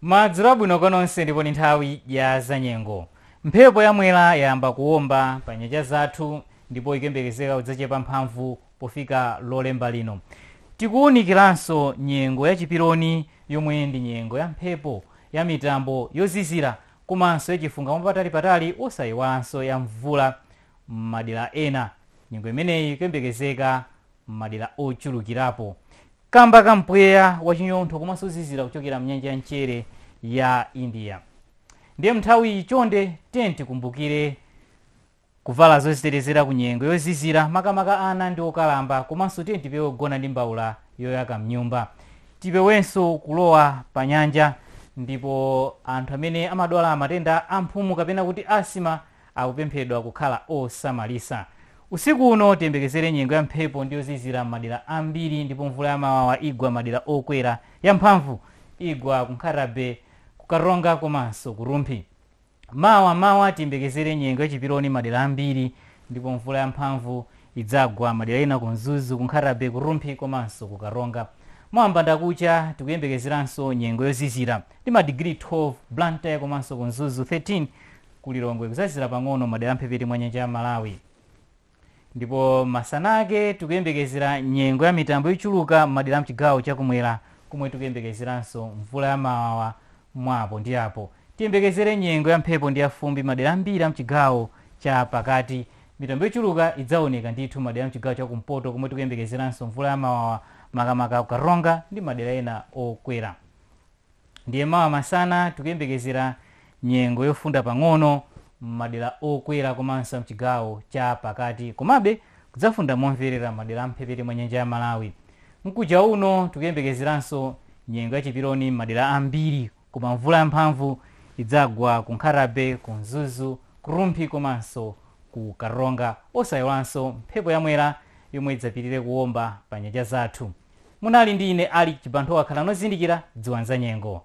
Madzulo abwino kwa nonse ndipo ndi nthawi ya zanyengo. Mphepo ya Mwera yayamba kuwomba pa nyanja zathu ndipo ikuyembekezeka kudzachepa mphamvu pofika Lolemba lino. Tikuwunikiranso nyengo ya chiperoni yomwe ndi nyengo ya mphepo ya mitambo yozizira komanso ya chifunga mwapatali patali osayiwalanso ya mvula m'madera ena. Nyengo imeneyi ikuyembekezeka m'madera ochulukirapo. kamba ka mpweya wachinyontho komanso ozizira kuchokera mnyanja ya mchere ya india ndiye mnthawi iyi chonde tiyeni tikumbukire kuvala zozitetezera ku nyengo yozizira makamaka ana ndi okalamba komanso tiyeni tipewe kugona ndi mbaula yoyaka mnyumba tipewenso kulowa pa nyanja ndipo anthu amene amadwala matenda a mphumu kapena kuti asthma akupemphedwa kukhala osamalitsa. Usiku uno tiyembekezere nyengo ya mphepo ndi yozizira m'madera ambiri ndipo mvula ya mawawa igwa m'madera okwera ya mphamvu igwa ku Nkhata-Bay, ku Karonga komanso ku Rumphi. Mawa mawa tiyembekezere nyengo ya chiperoni m'madera ambiri ndipo mvula ya mphamvu idzagwa m'madera ena ku Mzuzu, ku Nkhata-Bay, ku Rumphi komanso ku Karonga. Mawa mbandakucha tikuyembekezeranso nyengo yozizira ndi madigiri 12 Blantyre komanso ku Mzuzu 13. ku Lilongwe kudzazizira pang'ono m'madera a mphepete mwa nyanja ya Malawi. Ndipo masana ake tikuyembekezera nyengo ya mitambo yochuluka m'madera a m'chigawo chakumwera komwe tikuyembekezeranso mvula ya mawawa mwa apo ndi apo. Tiyembekezere nyengo ya mphepo ndi ya fumbi m'madera ambiri a m'chigawo cha pakati. Mitambo yochuluka idzaoneka ndithu m'madera a m'chigawo cha kumpoto komwe tikuyembekezeranso mvula ya mawawa makamaka ku Karonga ndi madera ena okwera. Ndiye mawa masana tikuyembekezera nyengo yofunda pang'ono m'madera okwera komanso a m'chigawo cha pakati komabe kudzafunda momverera m'madera a m'mphepete mwa nyanja ya Malawi. Mkuja uno tikuyembekezeranso nyengo ya chiperoni m'madera ambiri koma mvula yamphamvu idzagwa ku Nkhatabay, ku Mzuzu, ku Rumphi komanso ku Karonga osaiwalanso mphepo ya Mwera yomwe idzapitirire kuomba pa nyanja zathu. Munali ndi ine Alick Chibanthowa. Khalani ozindikira, dziwani za nyengo.